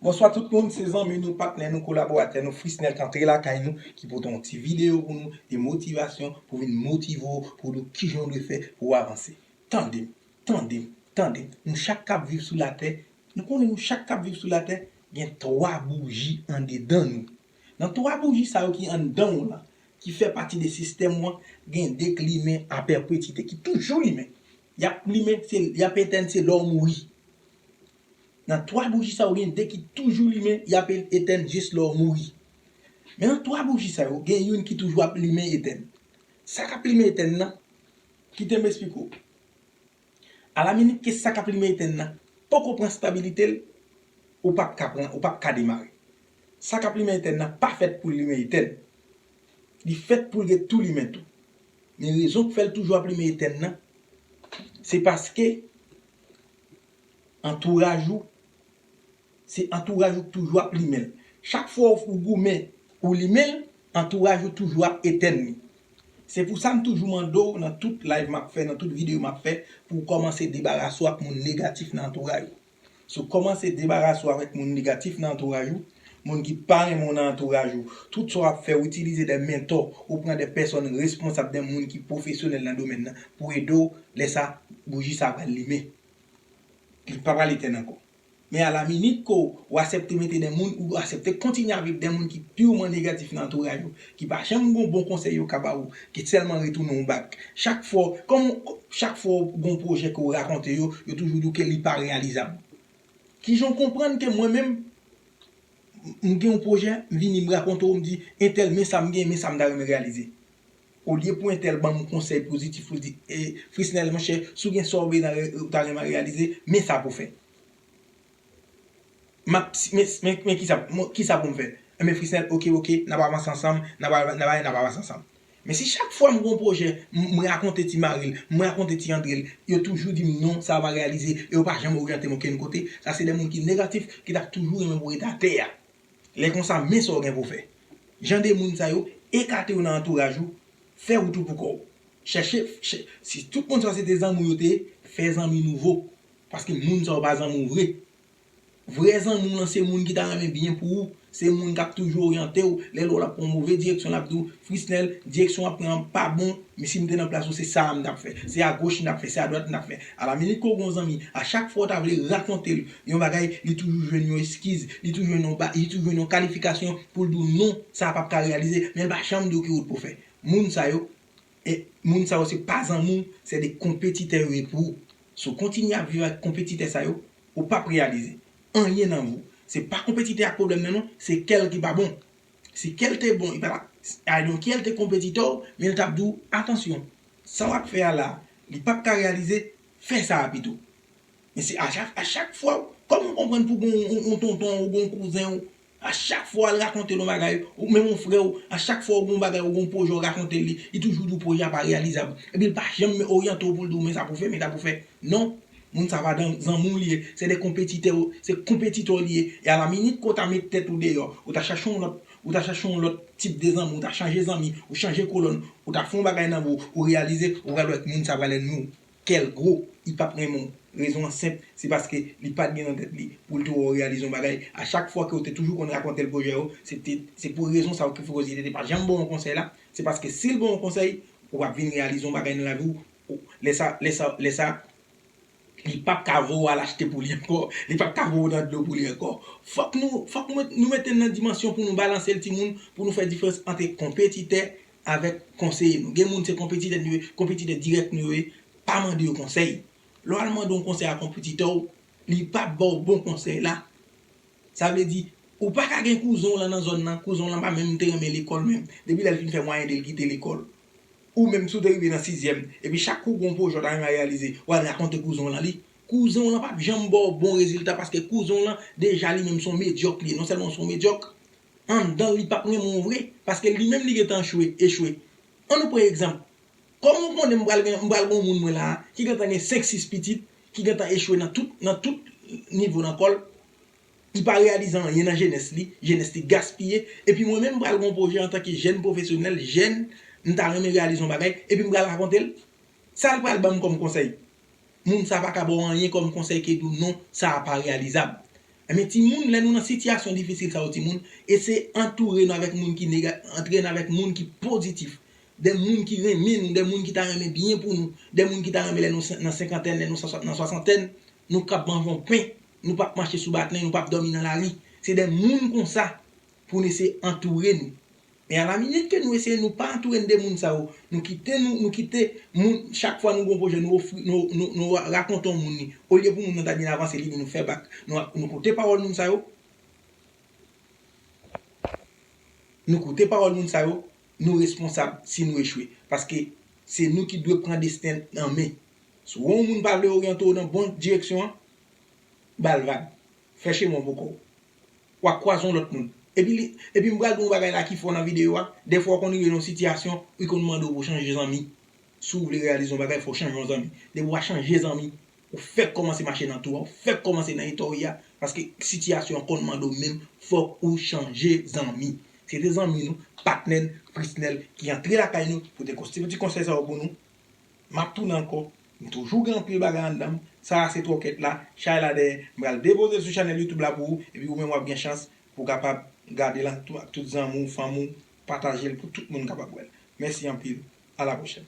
Bonswa tout moun, se zanmi nou, patnè nou, kolaboratè nou, Frisnel k antre lakay nou, ki pote yon ti videyo pou nou, de motivasyon, pou vin motive ou, pou w di w kijan w dwe fè pou w avanse. Tande m! Tande, tande, nou chak k ap viv sou latè, nou konnen nou chak k ap viv sou latè gen twa bouji andedan nou. Nan twa bouji sa yo ki anndan w lan, ki fè pati de sistèm ou an, gen de k limen a pèpetite, ki toujou limen. Y ap limen, se, y ap etèn se lè w mouri. Nan twa bouji sa yo, gen de ki toujou limen, y ap etèn jis lè w mouri. Men nan twa bouji sa yo, gen youn ki toujou ap limen etèn. Sa k ap limen etèn nan, Kite m esplike w. Alaminit ke sa k ap limen etèn nan poko pran stabilite l, ou pap ka pran, ou pap ka demare. Sa k ap limen etèn nan pa fèt pou l limen etèn. Li fèt pou l gen tou limen tou. Men rezon k fè l toujou ap limen etèn nan, se paske antouraj ou, Se antouraj ou k toujou ap limen l. Chak fwa ou goumen, ou limen l, antouraj ou toujou ap etèn li. Se pou sa m toujou mande w nan tout live m ap fè, nan tout videyo m ap fè, pou w kòmanse debarase w ak moun negatif nan antouraj ou. Si w kòmanse debarase w avèk moun negatif nan antouraj ou, moun ki pa renmen w nan antouraj ou, tout sa w ap fè, ou itilize de mentò, ou pran de pèsòn responsab, de moun ki pwofesyonèl nan domèn nan pou ede w, lè sa, bouji sa a pral limen. Li pa pral etèn ankò. Men a la minit ke w asèpte mete de moun ou asèpte kontinye avèk de moun ki pirman negatif nan antouray ou, ki pa janm gon bon konsèy yo ka ba ou, ki sèlman retounen w bak chak fwa w, kòm w, chak fwa w gon pwojè ke w rakonte yo, yo toujou di w ke li pa reyalizab. Kijan w konprann ke mwen menm, m gen yon pwojè, m vini m rakonte w, m di entèl men sa m gen, men sa m ta renmen reyalize. Olye pou entèl ban m konsèy pozitif ou di, Frisnel monchè, si w gen sa w vle nan ou ta renmen reyalize, men sa pou w fè. M ap si men men kisa kisa pou m fè? Enben Frisnel oke oke n ap avanse ansanm, n ap al nan n ap avanse ansanm. Men si chak fwa m gen yon pwojè m rakonte ti mari l, m rakonte ti Andre l, yo toujou di m non sa pa reyalize e yo pa janm oryante m okenn kote, sa se de moun ki negatif ki t ap toujou renmen pou w ret atè a. Lè konsa men sa w gen pou w fè. Jan de moun sa yo, ekate yo nan antouraj ou, fè wout ou pou kò w. Chèche, si tout moun sa yo se te zanmi w yo te ye, fè zanmi nouvo. Paske moun sa yo pa zanmi w vre. Vrè zanmi w lan se moun ki ta renmen byen pou ou, se moun k ap toujou oryante w, lè l wè w l ap pran yon move direksyon l ap di w, Frisnel, direksyon wap pran an pa bon, men si m te nan plas ou se sa a m tap fè. Se a goch m tap fè, se a dwat m tap fè. Alaminit ke w gen yon zanmi, a chak fwa w ta vle rakonte l yon bagay, li toujou jwenn yon eskiz, li toujou jwenn yon ba, li toujou jwenn yon kalifikasyon pou l di w non, sa a pap ka reyalize, men l pa janm di w ki wout pou w fè. Moun sa yo, e, moun sa yo se pa zanmi w, se de konpetitè yo ye pou ou. Si w kontinye ap viv ak konpetitè sa yo, ou pap reyalize. Anyen nan vi w. Se pa konpetitè a k pwoblèm nan non, se kè l ki pa bon. Si kèl te bon li pa tap I don't care li te konpetitè w men li tap di w atansyon sa wap fè a la li pap ka reyalize fè sa a pito men se a chak fwa kòman w konprann pou gen yon tonton w ou gen yon kouzen w a chak fwa wal rakonte l yon bagay ou menm yon frè w a chak fwa ou gen yon bagay ou gen yon pwojè w rakonte l li li toujou di w pwojè a pa reyalizab epi l pa janm oryante w pou l di w men sa pou w fè men sa pou w fè non Moun sa pa zanmi'w li ye, se 2 konpetitè yo, se konpetitò'w li ye, e a la minit ke w ta met tèt ou deyò, ou ta chache yon lòt, ou ta chache yon lòt tip de zanmi, ou ta chanje zanmi, ou chanje kolòn, ou ta fè yon bagay nan vi w, ou reyalize, ou pral wè ke moun sa pral ènmi w, kè'l gwo, li pap renmen w, rezon an senp, se paske li pat gen nan tèt li pou'l te wè w reyalize yon bagay, a chak fwa ke w te toujou konn rakonte'l pwojè yo, se te, se pou rezon sa yo ki fè ke li te pa janm ba w yon konsèy la, se paske si'l ba w yon konsèy, ou pap vin reyalize yon bagay nan lavi w, O, lè sa, lè sa, lè sa, li pap ka voye w al achte pou li ankò, li pap ka voye w nan dlo pou li ankò. Fòk nou, fòk nou mete l nan dimansyon pou nou balanse l timoun, pou nou fè diferans antre konpetitè avèk konseye nou. Gen moun se konpetitè nou ye, konpetitè dirèk nou yo ye, pa mande yo konsèy. Lè w al mande yon konsèy a konpetitè w, li pap ba w bon konsèy la. Sa vle di, ou pa ka gen kouzen w lan nan zòn nan, kouzen w lan pa menm te renmen lekòl menm. Depi lè l fin fè mwayen de l kite lekòl. Ou menm si w te rive nan sizyèm, epi chak kou gen yon pwojè w ta renmen reyalize, w al rakonte kouzen w lan li, kouzen w lan pap janm ba w bon rezilta paske kouzen w lan deja li menm se yon medyòk li ye, non sèlman se yon medyòk, anndan l li pap renmen w vre paske li menm li gen tan chwe, echwe. An nou pran egzanp, kòman w konnen m pral gen m pral gen yon moun mwen la a ki gen tan gen 5, 6 pitit, ki gen tan echwe nan tout nan tout nivo nan kò l, Li pa reyalize anyen nan jenès li, jenès li gaspiye, epi mwen menm m pral gen yon pwojè antanke jèn pwofesyonèl, jèn, m ta renmen reyalize yon bagay, epi m pral rakonte l? Sa l pral ban m kòm konsèy? Moun sa pa ka ba w anyen kòm konsèy ke di w non, sa a pa reyalizab. Enben timoun, lè nou nan sitiyasyon difisil sa yo timoun, eseye antoure nou avèk moun ki nega, antre nan avèk moun ki pozitif, de moun ki renmen nou, de moun ki ta renmen byen pou nou, de moun ki ta renmen lè nou nan senkantèn, lè nou nan swasantèn, nou kab manje yon pen. Nou pap mache sou batmen, nou pap dòmi nan lari. Se de moun konsa pou n eseye antoure nou. Men alaminit ke nou eseye nou pa antoure n de moun sa yo, nou kite nou, nou kite moun, chak fwa nou gen yon pwojè nou ofri, nou rakonte yon moun li, olye pou moun nan ta byen avanse li di nou fè bak. Nou koute pawòl moun sa yo, nou koute pawòl moun sa yo, nou responsab si nou echwe. Paske se nou ki dwe pran desten n an men. Si w wè yon moun pa vle oryante w nan bon direksyon an, Bal vag. Fè cheme w poko wap kwaze yon lòt moun. Epi li epi m pral di w yon bagay la ki fò nan videyo a, dèfwa w konn rive nan yon sitiyasyon ou konn mande w pou w chanje zanmi. Si w vle reyalize yon bagay fò w chanje yon zanmi. Depi w pa chanje zanmi, ou fèk kòmanse mache nan tou a, ou fèk kòmanse nan eta w ye a, paske sitiyasyon an konn mande w menm fòk ou chanje zanmi. Se te zanmi nou, patnè n, Frisnel ki antre lakay nou pou te kon ti konsèy sa yo pou nou. M ap tounen ankò, m toujou gen anpil bagay anndan m, sa a se twòkèt la, chay la dèyè, m pral depoze l sou chanèl youtube la pou ou, epi ou menm w ap gen chans pou w kapab gade l ak tout zanmi w, fanmi w, pataje l pou tout moun kapab wè l. Mèsi anpil, a la pwochèn.